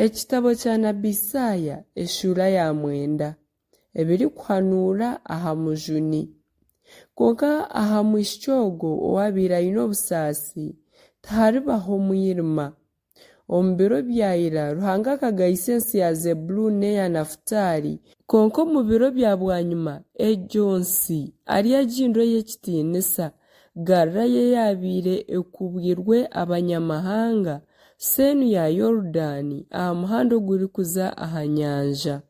Ekitabo kya Nabi Isaaya eshuura ya mwenda, ebirikuhanuura aha mujuni. Kwonka aha mwishiki ogwo owaabaire aine obusaasi, tiharibaho mwirima. Omu biro bya ira, Ruhanga akagayisa ensi ya Zebuluuni n'eya Nafutaali, kwonka omu biro bya bwanyima egyo nsi ari agihindure ey'ekitiinisa, Galilaaya eyaabaire ekubwirwe Abanyamahanga, seenu ya Yorudaani, aha muhanda ogurikuza aha nyanja.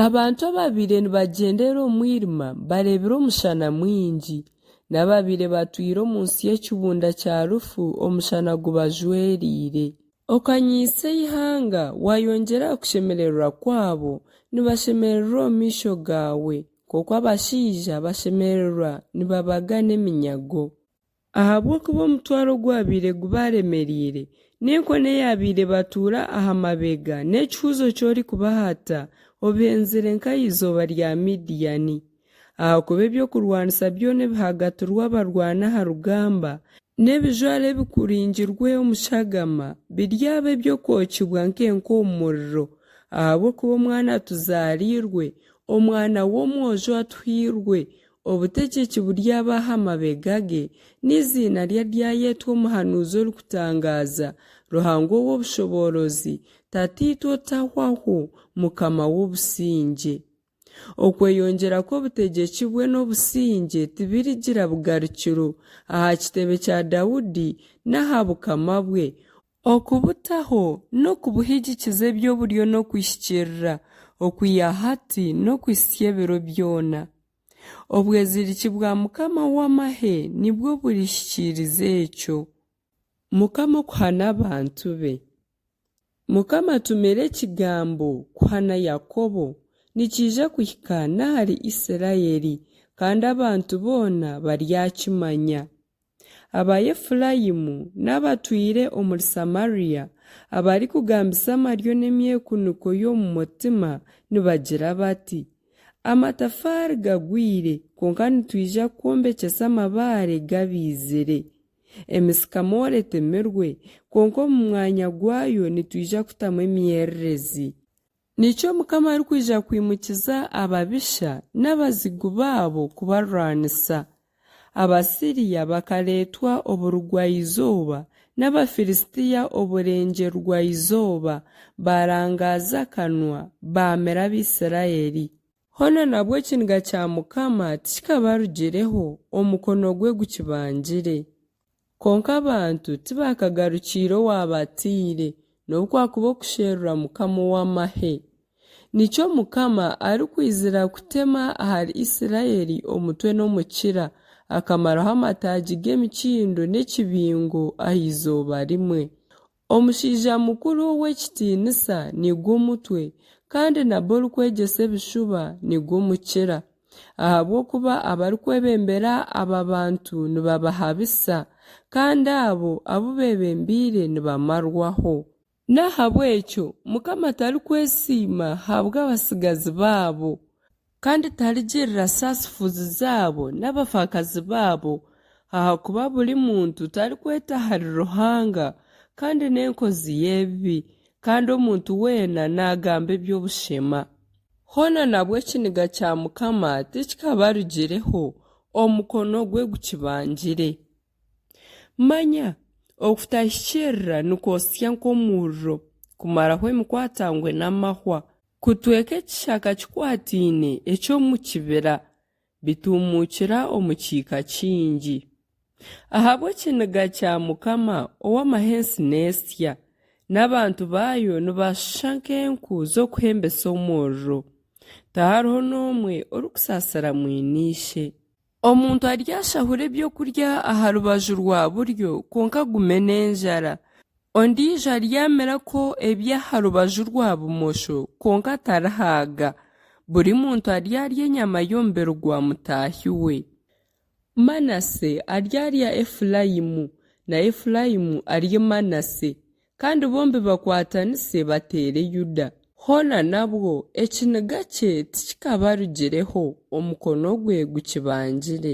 Abantu ababaire nibagyenderera omu mwirima bareebire omushana mwingi, n'ababaire batwire omu nsi y'ekibunda kya rufu omushana gubajwereire. Okanyiisa eihanga, waayongyera aha kushemererwa kwabo, nibashemererwa omu maisho gaawe. Nk'oku abashaija bashemererwa nibabaga n'eminyago. Ahabw'okuba omutwaro gwabaire gubaaremereire, n'enkoni eyaabaire ebatuura aha mabega, n'ekihuuzo ky'orikubahata, obihenzire nka eizooba rya Midiani. Ahakuba eby'okurwanisa byona ebihagatirwe abarwani aha rugamba, n'ebijwaro ebikuringirwe omu shagama, biryaba eby'okwokibwa nk'enku omu muriro. Ahabw'okuba omwana atuzaariirwe, Omwana w'omwojo atuhairwe obutegyeki buryaba aha mabega ge, n'eiziina rye aryayetwa Omuhanuuzi Orikutangaaza, Ruhanga Ow'obushoboorozi, Tataitwe Otahwaho, Mukama w'Obusingye. Okweyongyera kw'obutegyeki bwe n'obusingye tibirigira bugarukiro aha kitebe kya Daudi n'aha bukama bwe, Okubutaho n'okubuhigikiza eby'oburyo n'okwihikirira okwiha hati n'okuhitsya ebiro byona. Obweziriki bwa Mukama w'amahe nibwo burihikiiriza ekyo. Mukama okuhana abantu be. Mukama atumire ekigambo kuhana Yakobo, nikiija kuhika n'ahari Isiraeli, kandi abantu boona baryakimanya. Abaefuraimu n'abatwire omuri Samaria abarikugambisa amaryo n'emyekuniko y'omu mutima nibagira bati, Amatafaari gagwire, kwonka nitwija kwombekyesa amabaare gabaizire. Emisikamore etemirwe, kwonka omu mwanya gwayo nitwija kutamu emyererezi. Niki Omukama arikwija kwimukiza ababisha n'abazigu baabo kubarwanisa? Abasiria bakareetwa oburugwa-izooba, n'Abafilistia oburengye-rugwa-izooba, baarangaaza akanwa, baamira Abaisiraeli. Hoona nabwo ekiniga kya Mukama tikikabarugireho, omukono gwe gukibangire. Kwonka abantu tibakagarukiire owaabataire, n'obu kwakuba okusherura Mukama ow'amahe. Nikyo Mukama arikwizira kutema ahari Isiraeli omutwe n'omukira, akamaraho amataagi g'emikindo n'ekibingo aha izooba rimwe. Omushaija mukuru ow'ekitiinisa nigo omutwe, kandi nabwo orikwegyesa ebishuba nigo mukira. Ahabw'okuba abarikwebembera aba bantu nibabahabisa, kandi abo abu beebembeire nibamarwaho. N'ahabw'ekyo Mukama tarikwesiima habw'abatsigazi baabo. Kandi tarigirira saasifuzi zaabo n'abafaakazi baabo, ahakuba buri muntu tarikweta ahari Ruhanga, kandi n'enkozi y'ebibi, kandi omuntu weena naagamba eby'obushema. Hoona nabwo ekiniga kya Mukama tikikabarugireho, omukono gwe gukibangire. Manya, okutahikiirira nikwosya nk'omuriro, kumaraho emikwatangwe n'amahwa. Kutweka ekishaka kikwataine eky'omu kibira, bituumuukira omu kiika kingi. Ahabw'ekiniga kya Mukama ow'amahe ensi neesya, n'abantu baayo nibashusha nk'enku z'okuhembesa omuriro, tihariho n'omwe orikusaasira mwine ishe. Omuntu aryashahura eby'okurya aha rubaju rwa buryo kwonka agume n'enjara, ondiijo aryamirako eby'aha rubaju rwa bumosho kwonka atarihaaga. Buri muntu aryarya enyama y'omubiri gwa mutaahi we. Manase aryarya Efuraimu, na Efuraimu arye Manase. Kandi bombi bakwatanise bateere Yuda. Hoona nabwo, ekiniga kye tikikabarugireho, omukono gwe gukibangire.